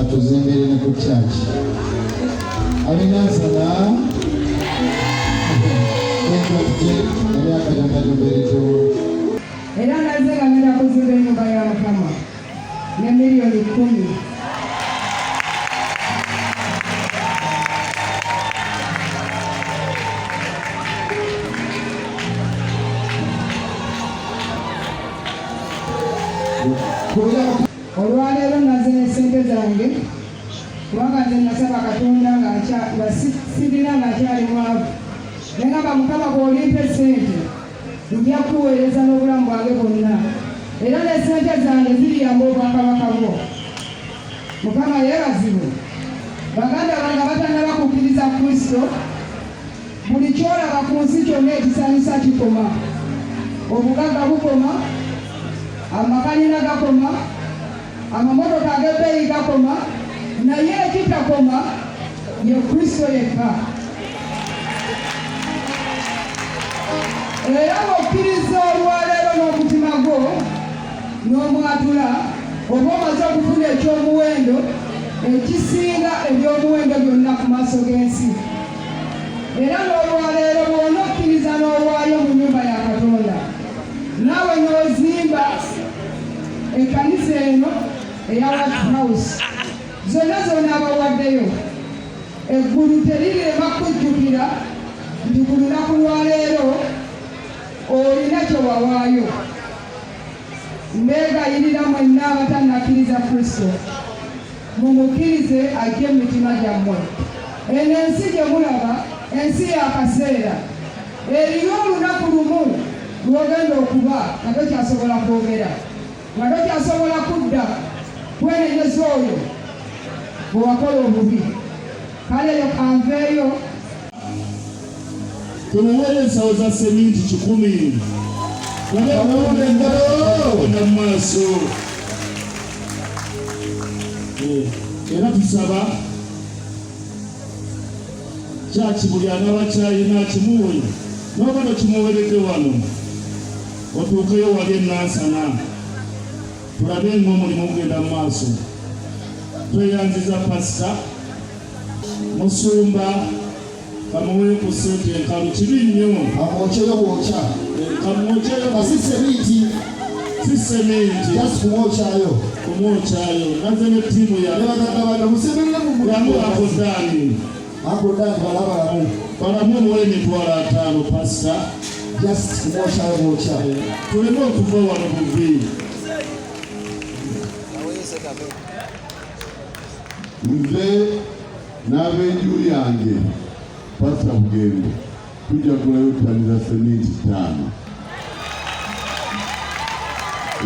atuzimbire ne ku kyaki alinansana era naze ngagenda kuzimba enyumba ya mukama ne miliyoni kumi olwaleero naze ne ssente zange kubanga nze nasaba katonda nga sirina nga akyali mwavu naye ngamba mukama bwolimpa esente nja kuweereza n'obulamu bwange bwonna era ne ssente zange ziriyamba obwakabaka bwo mukama yeebazibwe baganda bange abatanaba kukkiriza kristo Buli kyolaba ku nsi kyonna ekisanyusa kikoma. Obugagga bukoma, amakanina gakoma, amamotoka ag'ebbeeyi gakoma, naye ekitakoma ye Kristo yekka. Era bw'okkiriza olwaleero n'omutima gwo n'omwatula oba omaze okufuna eky'omuwendo ekisinga eby'omuwendo byonna ku maaso g'ensi. era n'olwaleero bwona okkiriza n'owaayo mu nyumba ya katonda naawe n'ozimba ekkanisa eno eya wat house zonna zona abawaddeyo eggulu terirema kujjukira nti ku lunaku lwaleero olina kyewawaayo Mbeegayirira mwenna abatannakkiriza Kristo, mumukkirize ajje mu mitima gyammwe. Eno ensi gye mulaba, ensi y'akaseera. Eriyo olunaku lumu lw'ogenda okuba nga tokyasobola kwogera, nga tokyasobola kudda kwenenyeza oyo gwe wakola obubi. Kale leka nveeyo tubaweere ensawo za seminti kikumi kubabuula engalo mu maaso eh, era tusaba kyaki buli anaba kyalina kimuwe noba nokimuweredde wano otuukeyo wali enansana tulabe nga omulimu gugenda mu maaso tweyanziza pasita musumba kamuwe ku sente enkalu kibi nnyo amwokyeyo bwokya kamwokyeyo nga si seminti si seminti just kumwokyayo kumwokyayo naze ne ttiimu yanebagatawada musemerere mu mulamu ako daani ako daani balabalamu balamu muwe emitwalo ataano pasita just kumwokyayo bwokya tuleme okuva wano buvi nze n'abenju yange pasa bugembe tujja kulayo ttani za seminti ttaano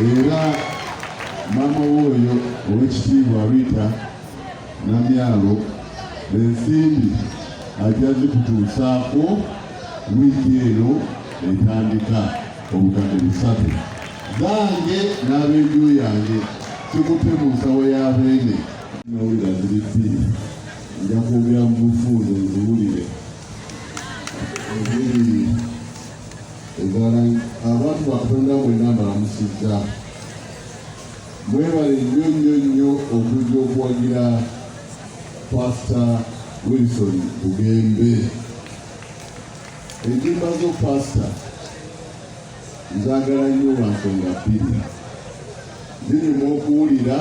era maama wooyo ow'ekitiibwa rita namyalo ensimbi ajja zikutuusaako wiiki eno etandika obukadde busatu zange n'ab'enju yange kikutte mu nsawo ya beene nawulira ziri bbiri nja kwogera mu bufuundo nziwulire ebiri ezala abantu batonda mwena mbalamusizza mwebale nnyo nnyo nnyo okujja okuwagira pasita wilson bugembe Ennyimba zo paasita nzaagala nnyo lwa nsonga bbiri. Zinyuma okuwulira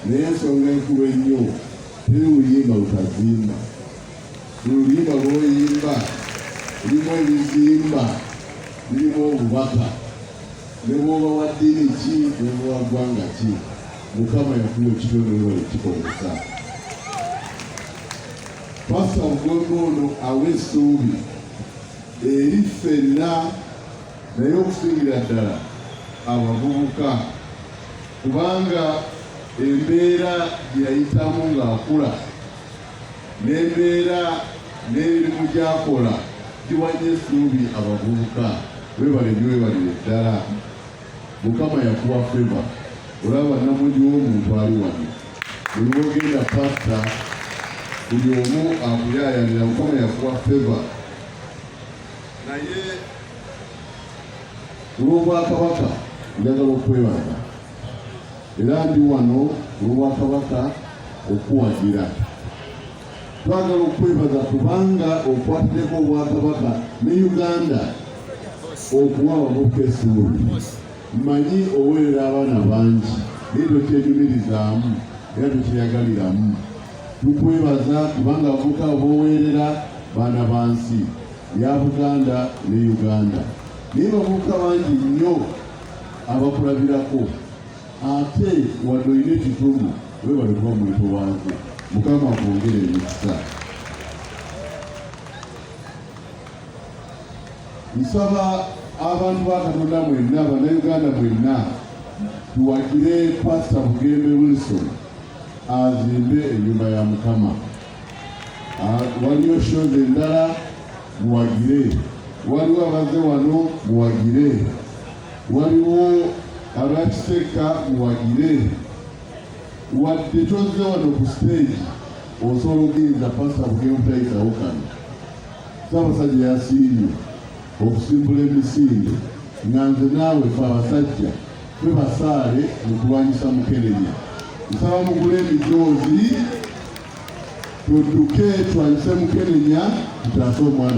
naye ensonga enkulu ennyo teri luyimba lutazimba. Oluyimba lw'oyimba lulimu ebizimba, lulimu obubaka ne bw'oba wa ddiini ki ne bw'oba wa ggwanga ki Mukama yakuwa ekitone webale kikozesa. Pasita Lugombe ono awa essuubi eri ffenna naye okusingira ddala abavubuka kubanga embeera gye yayitamu ng'akula n'embeera n'emirimu gyakola giwanye essuubi abavubuka webalebye webalire ddala mukama yakuwa feva olaba namundi womuntu ali wano buli wogenda pasta buli omu akuyayanira mukama yakuwa feva naye olwobwakabaka njagala okwebaza era ndi wano olwobwakabaka okuwagira twagala okukwebaza kubanga okwatideko obwakabaka ne uganda okuwa abavubuka essuubi mmanyi oweerera abaana bangi naye tokyenyumirizaamu era tokyeyagaliramu tukwebaza kubanga abavubuka boweerera baana ba nsi ya buganda ne uganda naye bavubuka bangi nnyo abakulabirako ate wadde olina ekituma webale kuba omuntu wange mukama akwongere emikisa nsaba abantu ba katonda mwenna banauganda mwenna tuwagire pasita bugembe wilson azimbe enyumba ya mukama ah, waliyo shoze endala muwagire waliwo abaze wano muwagire waliwo abakisekka muwagire wadde tozze wano ku siteegi osobola okuyinza pasita bukemutayisawo kano saabasajja yasiimye okusimbula emisinde nga nze naawe fe abasajja fe basaale mu kulwanyisa mukenenya nsaba mugule emijoozi tudduke twanyise mukenenya tutaase omwana